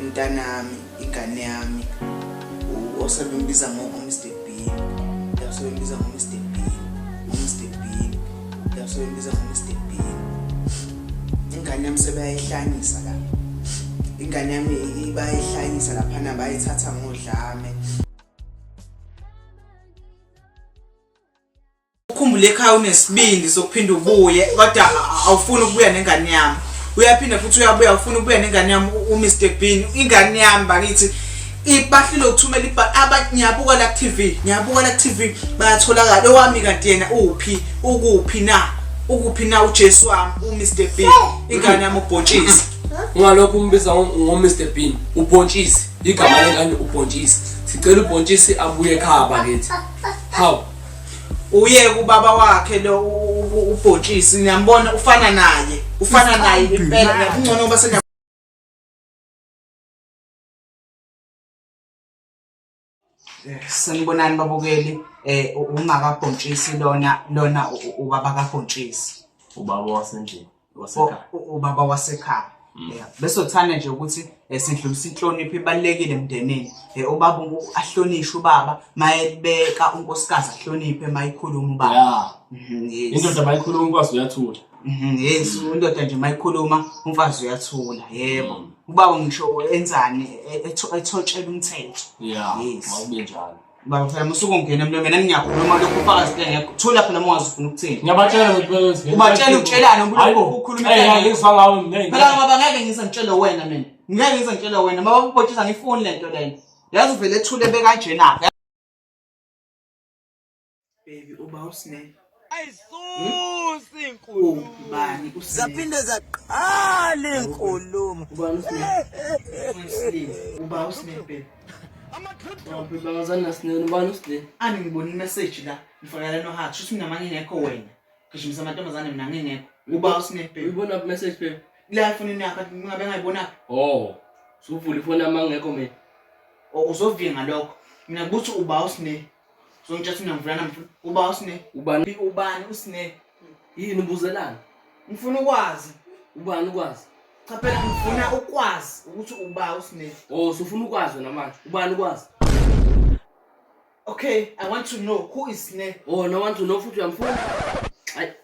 umntanami ingane yami osebembiza ngo-omster bean yasebembiza ngo-mr bean omster bean yasebembiza ngo-mr bean ingane yami sebayayihlanyisa la ingane yami bayayihlanyisa laphana bayithatha ngodlame ukhumbule ekhaya unesibindi sokuphinda ubuye kodwa awufuni ukubuya nengane yami uyaphinde futhi uyabuya ufuna ukubuya nengane yami uMr Bean ingane yami bakithi ibahlile ukuthumela ibhali abantu ngiyabuka la TV ngiyabuka la TV bayatholakala owami kanti yena uphi ukuphi na ukuphi na uJesu wami uMr Bean ingane yami ubhontshisi ungalokho umbiza ngoMr Bean ubhontshisi igama lengane ubhontshisi sicela ubhontshisi abuye ekhaya bakithi how uye kubaba wakhe lo ubhotshisi niyambona ufana naye ufana naye impela ngiyakungcono uba sena eh, sanibonani babukeli eh ungakabhontshisi lona lona ubaba kabhontshisi ubaba wasendlini wasekhaya ubaba wasekhaya Mm. yeah bese uthanda nje ukuthi eh, sidlulisa inhlonipho ibalekile emndenini eh, ubaba ahlonishwe ubaba mayebeka unkosikazi ahloniphe mayikhuluma ubaba yeah mhm, indoda mayikhuluma umfazi uyathula mhm, yes indoda nje mayikhuluma umfazi uyathula yebo mm. ubaba ngisho enzani e, e, ethotshela umthetho yeah mawube njalo Baba mfana musuku ngena emlomeni angiyakhuluma lokho ufaka sibenge thola phela uma ungazifuna ukuthini. Ngiyabatshela ukuthi bese. Ubatshela utshelane ubulokho ukhuluma into. Hey ngizwa ngawe mina. Phela baba ngeke ngize ngitshele wena mina. Ngeke ngize ngitshele wena baba ubotshisa ngifuni lento lena. Yazi uvele ethule bekanjena. baby uba usne ayisusi inkulumo ubani usne zaphinde zaqala inkulumo ubani usne uba usne baby babazana sine ubani usne ani ngibona imessage la ngifakela no heart shuthi mina mangingekho wena gijimisa amantombazane mina ngingekho uba usne baby uyibona ku message baby la ifoni yakho ngabe ngayibona oh suvula ifoni amangekho mina uzovinga lokho mina kuthi uba usne so ngitsha sine ngivula namfuna uba usine ubani ubani usine yini ubuzelana ngifuna ukwazi ubani ukwazi cha phela ngifuna ukwazi ukuthi uba usine oh so ufuna ukwazi wena manje ubani ukwazi okay i want to know who is sine oh no want to know futhi uyamfuna